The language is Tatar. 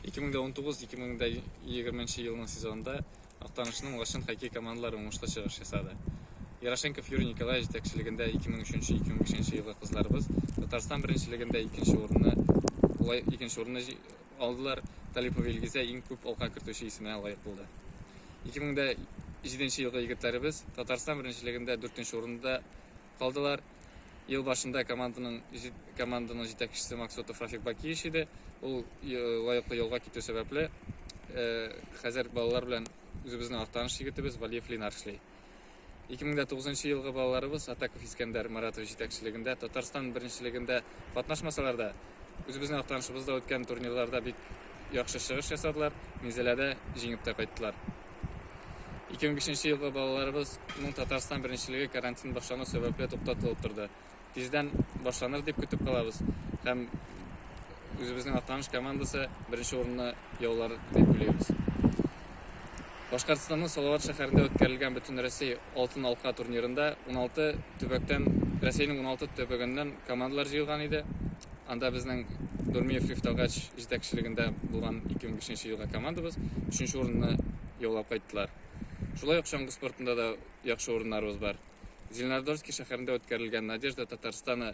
2019-2020 елның сезонында Актанышның Лачын хоккей командалары уңышлы чыгыш ясады. Ярошенков Юрий Николаевич җитәкчелегендә 2003-2005 елгы кызларыбыз Татарстан беренчелегендә икенче урынны улай икенче урынны алдылар. Талипова Илгизә иң күп алка кертүче исеменә лаек булды. 2007 елгы егетләребез Татарстан беренчелегендә 4 урында калдылар. Ел башында команданың команданың җитәкчесе Максутов Рафик Бакиевич иде. Ул лаеклы юлга китү сәбәпле, хәзер балалар белән үзебезнең Актаныш егетебез Валиев Ленар эшли. 2009 елгы балаларыбыз Атаков Искәндәр Маратов җитәкчелегендә Татарстан беренчелегендә катнашмасалар да, үзебезнең Актанышыбызда үткән турнирларда бик яхшы чыгыш ясадылар, Минзәләдә җиңеп тә кайттылар. 2005 елда балаларыбыз Мун Татарстан беренчелеге карантин башлану сәбәпле туктатылып торды. Тиздән башланыр дип көтеп калабыз һәм үзебезнең Атаныш командасы беренче урынны яулар дип уйлыйбыз. Башкортстанның Салават шәһәрендә үткәрелгән Бөтенроссия Алтын алка турнирында уналты төбәктән, Рәсәйнең уналты төбәгеннән командалар җыелган иде. Анда безнең Нурмиев Рифтагач җитәкчелегендә булган 2005 елга командабыз өченче урынны яулап кайттылар. Шулай ук чаңгы спортында да яхшы урыннарыбыз бар. Зеленодольский шәһәрендә үткәрелгән Надежда Татарстаны